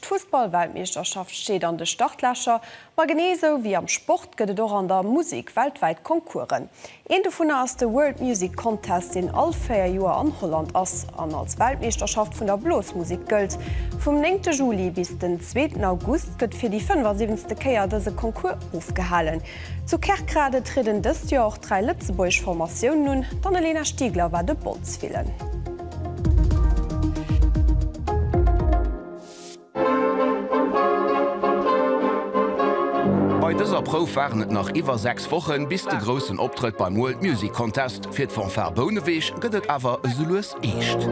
D'Fussball-Weltmeeschterschaft steet an de Startlächer, ma genee esou wéi am Sport gëtt et och an der Musek weltwäit Concoursen. Een dovunner ass de World Music Contest, deen all véier Joer an Holland ass an als Weltmeeschterschaft vun der Blosmusek gëllt. Vum néngte Juli bis den zweeten August gëtt fir déi 75. Kéier dëse Concours ofgehalen. Zu Kerkrade trieden dëst Joer och dräi lëtzebuergesch Formatiounen un, d'Anne-Lena Stiegler war de Bondsvillen. Bei dëser Prouf waren et nach iwwer 6 Wochen bis de groussen Optrëtt beim World Music Contest. Fir d'Fanfare Bouneweg gëtt et awer esou lues eescht.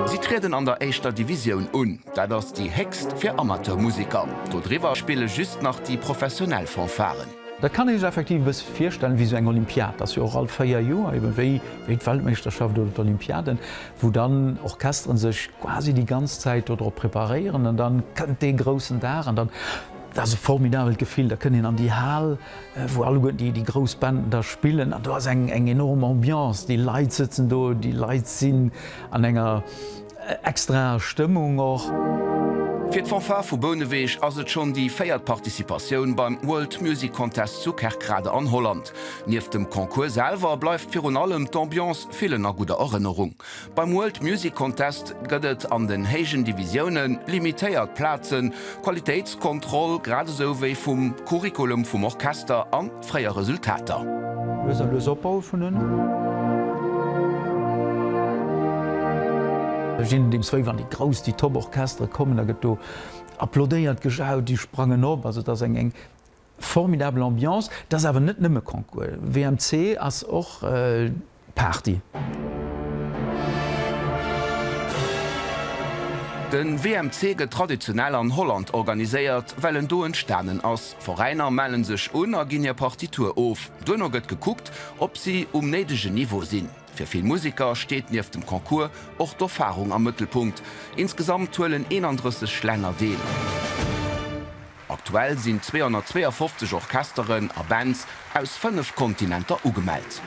Si trieden an der éischter Divisioun un, dat ass déi héchst fir Amateurmusiker. Dodriwwer spille just nach déi professionell Fanfaren. Dat kann ee sech effektiv e bësse virstellen wéi esou eng Olympiad. Dat ass jo och all véier Joer, eben wéi d'Weltmeeschterschaft oder d'Olympiaden, wou dann Orchesteren sech quasi déi ganz Zäit dodrop preparéieren. An da kënnt dee groussen Dag an dann, dat ass e formidabelt Gefill, da kënnt een an déi Hal, wou alleguerten déi grouss Bänden da spillen an do ass eng enorm Ambiance. Déi Leit sëtzen do, déi Leit sinn an enger. Extra Stëmmung och. Fir d'Fanfare vu Bouneweg ass et schonn déi véiert Participatioun beim World Music Contest zu Kerkrade an Holland. Nieft dem Concours selwer bleift virun allem d'Ambiance villen a gudder Erënnerung. Beim World Music Contest gëtt et an den héijen Divisioune limitéiert Plazen, Qualitéitskontroll grad esou wéi vum Curriculum vum Orchester an. Fréier Resultater. Lues a lues Opbau vun en. Ginn deem Sway wann déi grouss, déi top Orchestere kommen. Da gëtt do applaudéiert, gejaut, déi sprangen op. Also et ass eng eng formidabel Ambiance. Et ass awer net nëmme Concours. WMC ass och. Party. De WMC gëtt traditionell an Holland organiséiert, well en do entstanen ass. Veräiner mellen sech un a ginn hir Partitur of. Duerno gëtt gekuckt, ob si um néidegen Niveau sinn. Fir vill Museker steet nieft dem Concours och d'Erfarung am Mëttelpunkt. Insgesamt huelen 31 Länner deel. Aktuell sinn 252 Orchesteren a Bands aus 5 Kontinenter ugemellt.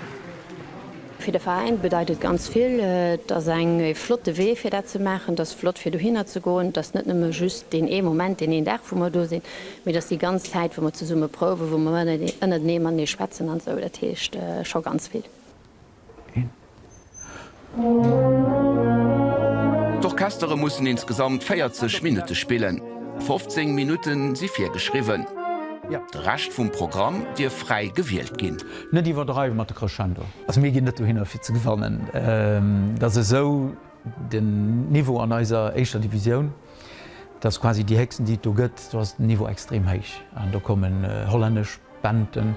Fir de Veräin bedeit et ganz vill. Et ass eng flotte Wee fir dat ze maachen. Et ass flott fir dohinner ze goen. Et ass net nëmme just deen ee Moment, deen een Dag wou mer do sinn, mee et ass déi ganz Zäit wou mer zesumme prouwen, wou mer ënnertenee matenee schwätzen an esou. Dat heescht scho ganz vill. D'Orchestere mussen insgesamt 40 Minutte spillen, 15 Minutte si virgeschriwwen. De Rescht vum Programm dierf fräi gewielt ginn. Net iwwerdreiwen mat de Crescendo. Also mir ginn net dohinner fir ze gewannen, et ass esou den Niveau an eiser éischter Divisioun, et ass quasi déi héchsten déi et do gëtt, do ass den Niveau extrem héich an do kommen hollännesch, Benten,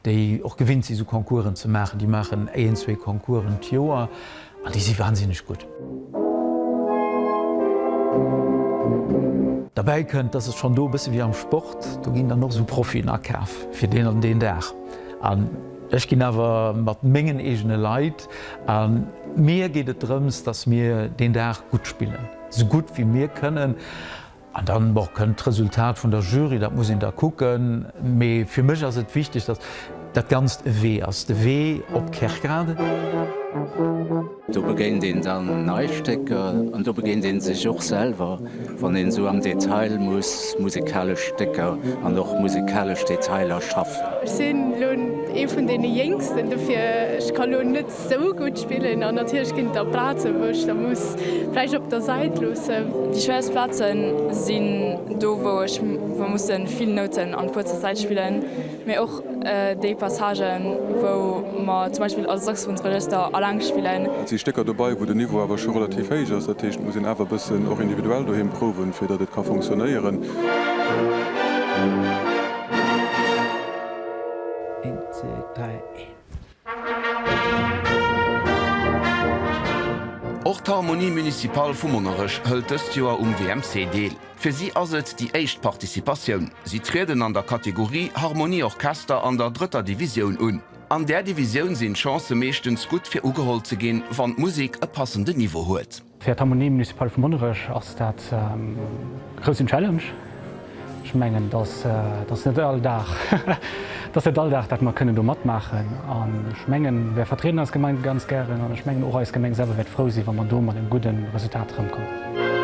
déi och gewinnt sinn, esou Concoursen ze maachen, déi maachen éen, zwee Concoursen d'Joer an déi si wahnsinneg gutt. Derbäi kënnt, dass et schonn do e bësse wéi am Sport, do ginn dann och esou Profien akaf fir deen an deen Dag an ech ginn awer mat mengen eegene Leit a mir geet et drëms, dass mir deen Dag gutt spillen, esou gutt wéi mir kënnen. An dann, bon, kënnt d'Resultat vun der Jury, dat muss een da kucken. Mee fir mech ass et wichteg, datt dat Ganzt e Wee ass, de Wee op Kerkrade. Do begéint een dann nei Stécker an do begéint ee sech och selwer, wann een esou am Detail muss musikalesch Stécker an och musikalesch Detailer schaffen. Ech sinn elo ee vun deene Jéngsten, dofir ech ka elo net Sou gutt spillen an natierlech ginn et der Plazen, wou ech se muss vläicht op der Säit loossen. Déi schwéierst Plazen sinn do, wou ech wou musse vill Nouten an kuerzer Zäit spillen, mee och déi Passagen, wou mer zum Beispill als Saxophonsregëster alleng spillen. Et si Stécker dobäi, wou den Niveau awer scho relativ héich ass. Dat heescht, et muss een awer e bëssen och individuell doheem prouwen, fir datt et ka fonctionnéieren. Och d'Harmonie Municipale vu Monnerech hëlt dëst Joer um WMC deel. Fir si ass et déi éischt Participatioun. Si trieden an der Kategorie Harmonie Orchester an der drëtter Divisioun un. An där Divisioun sinn d'Chancë meeschtens gutt fir ugeholl ze ginn, wann d'Musek e passenden Niveau huet. Fir d'Harmonie municipale vu Monnerech ass dat e groussen Challenge. Ech mengen, dass dat net all Dag dass net all Dag dat mer kënnen do matmaachen. An ech mengen, mir vertrieden eis Gemeng ganz gären an ech mengen och eis Gemeng selwer wäert frou sinn, wa mer do mat engem gudde Resultat erëmkommen.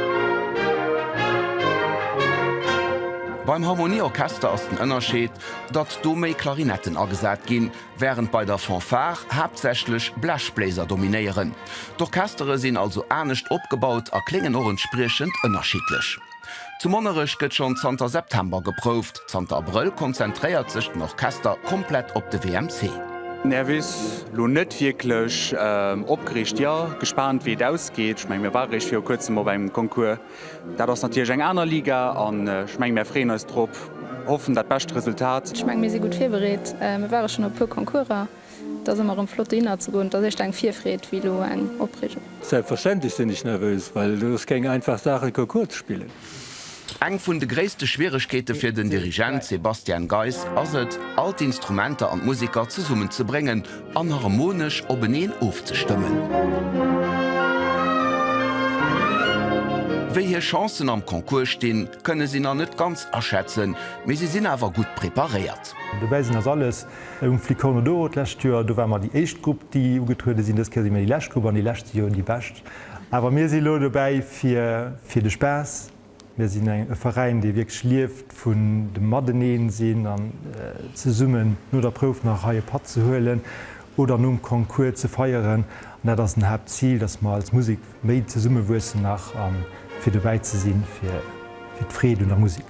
Beim Harmonie-Orchester ass den Ënnerscheed, datt do méi Klarinetten agesat ginn. Wärend bei der Fanfare haaptsächlech Blechbléiser dominéieren. D'Orchestere sinn also anescht opgebaut a kléngen och entspriechend ënnerschiddlech. Zu Monnerech gëtt schonn zanter September geprouft. Zanter Abrëll konzentréiert sech den Orchester komplett op de WMC. Nervös? Lo net wierklech. Opgereegt? Jo. Gespaant wéi et ausgeet. Ech mengen mir ware réischt viru kuerzem op engem Concours. Dat ass natierlech eng aner Liga an ech mengen, mär freeën eis drop, hoffen dat bescht Resultat. Ech mengen, mir si gutt virbereet. Mir ware schonn op e puer Concourser. Et ass ëmmer erëm flott, dohinner ze goen. Et ass éischter eng Virfreed wéi elo eng Opreegung. Selbstverständlech sinn ech nervös, well et ass keng einfach Saach, e Concours ze spillen. Eng vun de gréisste Schwieregkeete fir den Dirigent Sebastian Geis ass et, all d'Instrumenter an d'Museker zesummenzebréngen, an harmonesch openeen ofzestëmmen. Wéi hir Chancen am Concours stinn, kënne si nach net ganz aschätzen, mee si sinn awer gutt preparéiert. Dobäi sinn ass alles um Flicorno d'Oro. D'lescht Joer, do ware mer déi éischt Grupp, déi ugetruede sinn. Dës Kéier si mir déi lescht Grupp an déi lescht si jo déi bescht. Awer mir si lo dobäi fir de Spaass. Mir sinn e Veräin, dee wierklech lieft vun dem Mateneen-sinn an zesummen no der Prouf nach hei e Patt ze huelen oder nom Concours ze feieren. An dat ass en Haaptzil, dass mer als Musek méi zesummewuessen nach a fir dobäi ze si fir d'Freed un der Musek.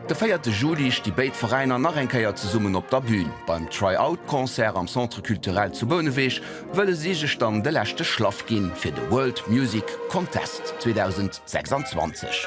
De véierte Juli sti béid Veräiner nach eng Kéier zesummen op der Bün. Beim Try-Out-Concert am Centre Culturel zu Bouneweg wëlle si sech dann de leschte Schlaff gi fir de World Music Contest 2026.